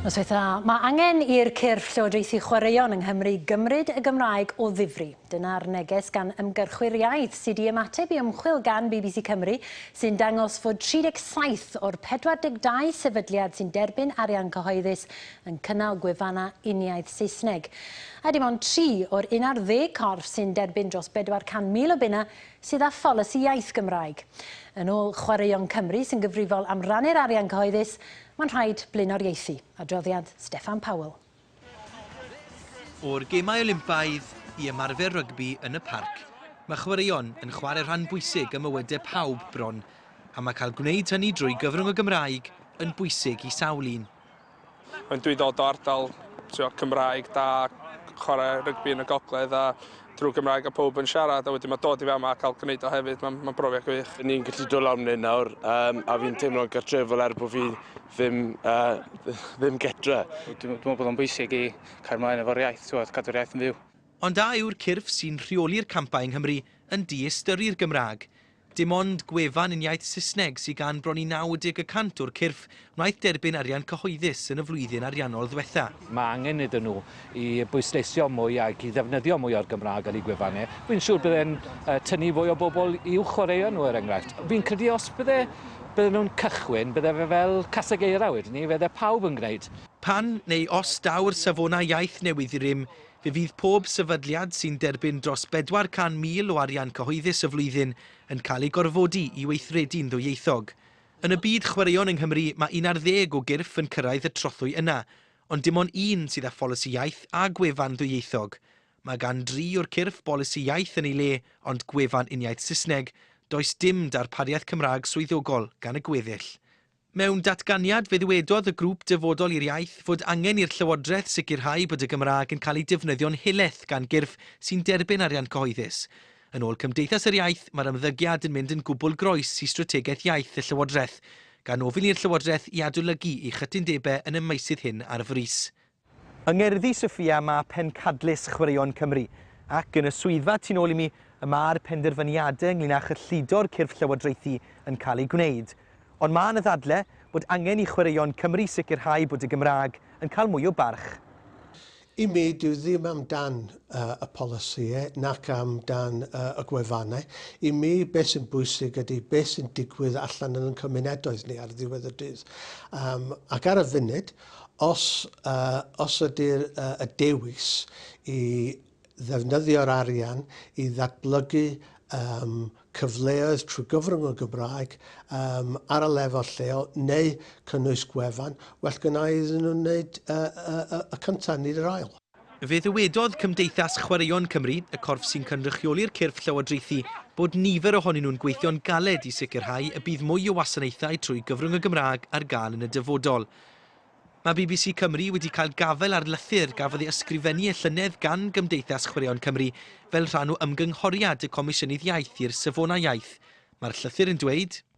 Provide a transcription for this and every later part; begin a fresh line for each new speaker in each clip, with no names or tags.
Noswaith dda. Mae angen i'r cyrff llywodraethu chwaraeon yng Nghymru gymryd y Gymraeg o ddifri. Dyna'r neges gan ymgyrchwyr iaith sydd i ymateb i ymchwil gan bbc Cymru sy'n dangos fod 37 o'r 42 sefydliad sy'n derbyn arian cyhoeddus yn cynnal gwefannau uniaith Saesneg. A dim ond tri o'r un ar ddeg corff sy'n derbyn dros 400,000 o bunnau sydd â pholisi iaith Gymraeg. Yn ôl Chwaraeon Cymru, sy'n gyfrifol am rannu'r arian cyhoeddus, mae'n rhaid blaenoriaethu. Adroddiad Steffan Powell.
O'r Gemau Olympaidd i ymarfer rygbi yn y parc, mae chwaraeon yn chwarae rhan bwysig ym mywydau pawb bron, a mae cael gwneud hynny drwy gyfrwng y Gymraeg yn bwysig i sawl un. Dwi
dod o ardal t'wo' Cymraeg da chware rygbi yn y gogledd a drw Gymraeg a powb yn siarad a wedyn ma' dod i fama a ca'l gneud o hefyd ma'n ma'n brofiad gwych. By' ni'n gallu dod lawr myn 'yn
nawr yym a fi'n teimlo'n gartrefol er bo' fi ddim yy ddim gytre. Dwi me'wl bod o'n
bwysig i cario mlaen efo'r iaith t'wod cadw'r iaith yn fyw. Ond a yw'r cyrff
sy'n rheoli'r campau yng Nghymru yn diystyru'r Gymraeg? Dim ond gwefan yn iaith Saesneg sydd gan bron i 90 y cant o'r cyrff wnaeth derbyn arian cyhoeddus yn y flwyddyn ariannol ddiwetha'. Mae angen iddyn nhw
i bwysleisio mwy ac i ddefnyddio mwy o'r Gymraeg ar eu gwefannau. Fi'n siŵr bydd e'n tynnu fwy o bobl i'w chwaraeon nhw er enghraifft. Fi'n credu os bydde, bydden nhw'n cychwyn, bydde fe fel caseg eira wedyn 'ny, fydde pawb yn gwneud. Pan, neu
os, daw'r safonau iaith newydd i rym, Fe fydd pob sefydliad sy'n derbyn dros 400,000 o arian cyhoeddus y flwyddyn yn cael ei gorfodi i weithredu'n ddwyieithog. Yn y byd chwaraeon yng Nghymru mae un ar ddeg o gyrff yn cyrraedd y trothwy yna, ond dim ond un sydd â pholisi iaith a gwefan ddwyieithog. Mae gan dri o'r cyrff bolisi iaith yn ei le ond gwefan uniaith Saesneg, does dim darpariaeth Cymraeg swyddogol gan y gweddill. Mewn datganiad, fe ddywedodd y Grŵp Dyfodol i'r Iaith fod angen i'r Llywodraeth sicrhau bod y Gymraeg yn cael ei defnyddio'n helaeth gan gyrff sy'n derbyn arian cyhoeddus. Yn ôl Cymdeithas yr Iaith, mae'r ymddygiad yn mynd yn gwbl groes i strategaeth iaith y Llywodraeth, gan ofyn i'r Llywodraeth i adolygu ei chytundebau yn y meysydd hyn ar frys. Yng Ngerddi Sophia mae Pencadlys Chwaraeon Cymru, ac yn y swyddfa tu nôl i mi y mae'r penderfyniadau ynglŷn â chyllido'r cyrff llywodraethu yn cael eu gwneud. Ond mae yna ddadle bod angen i Chwaraeon Cymru sicrhau bod y Gymraeg yn cael mwy o barch. I
mi, dyw ddim am dan y polisïau nac am dan y gwefannau. I mi, beth sy'n bwysig ydy beth sy'n digwydd allan yn ein cymuneddoedd ni ar ddiwedd y dydd. Ac ar y funud, Os, yy, os ydy'r, yy, y dewis i ddefnyddio'r arian i ddatblygu, yym, cyfleoedd trwy gyfrwng y Gymraeg, yym, ar y lefel lleol, neu cynnwys gwefan, well gynna' iddyn nhw wneud, yy, yy, yy, y cynta', nid yr ail. Fe ddywedodd
Cymdeithas Chwaraeon Cymru, y corff sy'n cynrychioli'r cyrff llywodraethu, bod nifer ohonyn nhw'n gweithio'n galed i sicrhau y bydd mwy o wasanaethau trwy gyfrwng y Gymraeg ar gael yn y dyfodol. Mae bbc Cymru wedi cael gafael ar lythyr gafodd ei ysgrifennu y llynedd gan Gymdeithas Chwaraeon Cymru fel rhan o ymgynghoriad y Comisiynydd Iaith i'r Safonau Iaith. Mae'r llythyr yn dweud,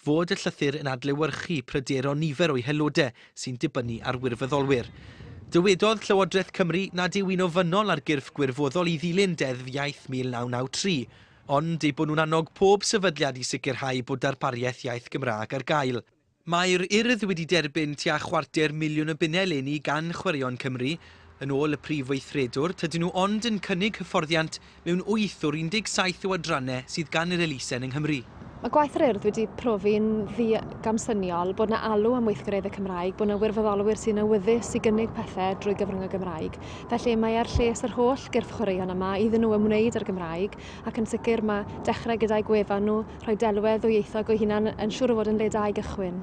fod y llythyr yn adlewyrchu pryderon nifer o'i haelodau sy'n dibynnu ar wirfoddolwyr. Dywedodd Llywodraeth Cymru nad yw'n ofynnol ar gyrff gwirfoddol i ddilyn Deddf Iaith 1993, ond eu bod nhw'n annog pob sefydliad i sicrhau bod darpariaeth iaith Gymraeg ar gael. Mae'r Urdd wedi derbyn tua chwarter miliwn o bunnau eleni gan Chwaraeon Cymru. Yn ôl y Prif Weithredwr, tydyn nhw ond yn cynnig hyfforddiant mewn wyth o'r 17 o adrannau sydd gan yr elusen yng Nghymru. Mae gwaith yr Urdd
wedi profi'n ddi-gamsyniol, bod 'na alw am weithgareddau Cymraeg, bod 'na wirfoddolwyr sy'n awyddus i gynnig pethau drwy gyfrwng y Gymraeg. Felly, mae ar lles yr holl gyrff chwaraeon yma iddyn nhw ymwneud â'r Gymraeg, ac yn sicr mae dechrau gyda'u gwefan nhw, rhoi delwedd ddwyieithog o'u hunain yn siŵr o fod yn le da i gychwyn.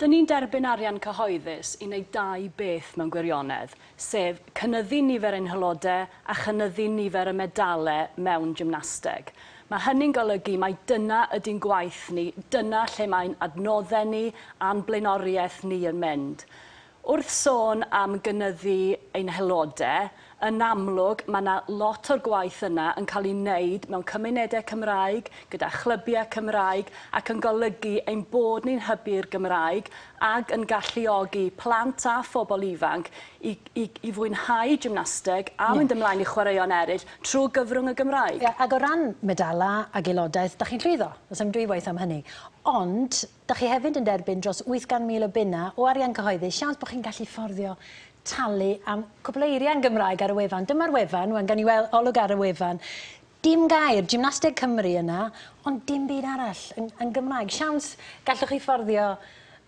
Dyn ni'n
derbyn arian cyhoeddus i wneud dau beth mewn gwirionedd, sef cynyddu nifer ein haelodau a chynyddu nifer y medalau mewn gymnasteg. Mae hynny'n golygu mai dyna ydy'n gwaith ni, dyna lle mae'n adnoddau ni a'n blaenoriaeth ni yn mynd. Wrth sôn am gynyddu ein haelodau, yn amlwg mae 'na lot o'r gwaith yna yn cael ei wneud mewn cymunedau Cymraeg, gyda chlybiau Cymraeg ac yn golygu ein bod ni'n hybu'r Gymraeg ag yn galluogi plant a phobl ifanc i i i fwynhau gymnasteg a mynd ymlaen i chwaraeon eraill trwy gyfrwng y Gymraeg. Ie, ac o ran
medalau ac aelodaeth, 'da chi'n llwyddo, does dim dwywaith am hynny. Ond, Dych chi hefyd yn derbyn dros 800,000 o bunnau o arian cyhoeddus, siawns bod chi'n gallu fforddio talu am cwpl o eiriau yn Gymraeg ar y wefan. Dyma'r wefan, wan, gawn ni weld olwg ar y wefan. Dim gair, Gymnasteg Cymru yna, ond dim byd arall yn, yn Gymraeg. Siawns gallwch chi fforddio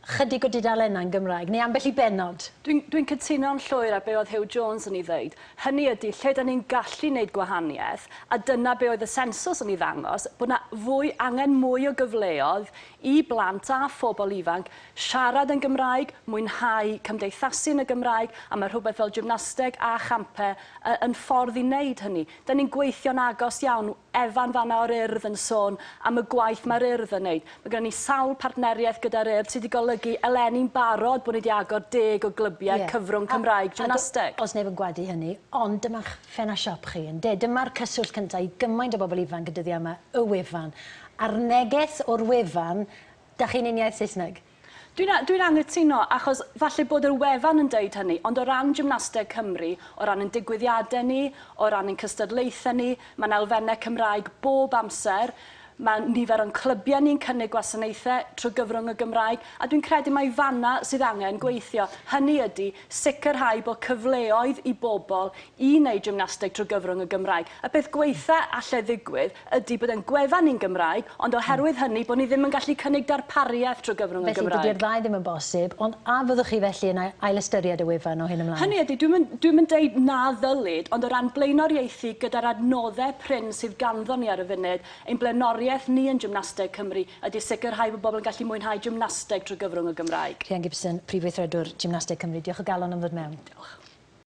chydig o dudalennau yn Gymraeg, neu ambell i bennod. Dwi'n, dwi'n cytuno'n
llwyr â be oedd Huw Jones yn ei ddeud, hynny ydy, lle dan ni'n gallu neud gwahaniaeth, a dyna be oedd y sensws yn ei ddangos, bod 'na fwy, angen mwy o gyfleodd i blant a phobl ifanc siarad yn Gymraeg, mwynhau cymdeithasu yn y Gymraeg, a mae rhywbeth fel gymnasteg a champau y- yn ffordd i wneud hynny. Da ni'n gweithio'n agos iawn, Evan fan'na o'r Urdd yn sôn am y gwaith mae'r Urdd yn wneud. Mae gennym ni sawl partneriaeth gyda'r Urdd sydd wedi golygu eleni'n barod bod ni wedi agor deg o glybiau yeah. cyfrwng Cymraeg gymnasteg. Os neb yn gwadu hynny,
ond dyma'ch ffenast siop chi, ynde? Dyma'r cyswllt cyntaf i gymaint o bobl ifanc y dyddiau yma, y wefan. A'r neges o'r wefan, dach chi'n uniaith Saesneg? Dwi'n a- dwi'n
anghytuno, achos falle bod yr wefan yn deud hynny, ond o ran gymnasteg Cymru, o ran ein digwyddiadau ni, o ran ein cystadlaethau ni, mae'n elfennau Cymraeg bob amser, mae nifer o'n clybiau ni'n cynnig gwasanaethau trwy gyfrwng y Gymraeg, a dwi'n credu mai fan'na sydd angen gweithio. Hynny ydi, Sicrhau bod cyfleoedd i bobl i wneud gymnasteg trwy gyfrwng y Gymraeg. Y peth gwaetha' allai ddigwydd ydi bod ein gwefan ni'n Gymraeg, ond oherwydd hynny, bod ni ddim yn gallu cynnig darpariaeth trwy gyfrwng y Gymraeg. Felly, dydi'r ddau ddim yn bosib,
ond a fyddwch chi felly yn ailystyried y wefan o hyn ymlaen? Hynny ydi, dwi'm yn, dwi'm yn
deud na ddylid, ond o ran blaenoriaethu gyda'r adnoddau prin sydd ganddo ni ar y funud, ein blaenoriaeth ni yn Gymnasteg Cymru ydy sicrhau bod pobl yn gallu mwynhau gymnasteg trwy
gyfrwng
y
Gymraeg. Rhian Gibson, Prif Weithredwr Gymnasteg Cymru, diolch o
galon
am ddod mewn. Diolch.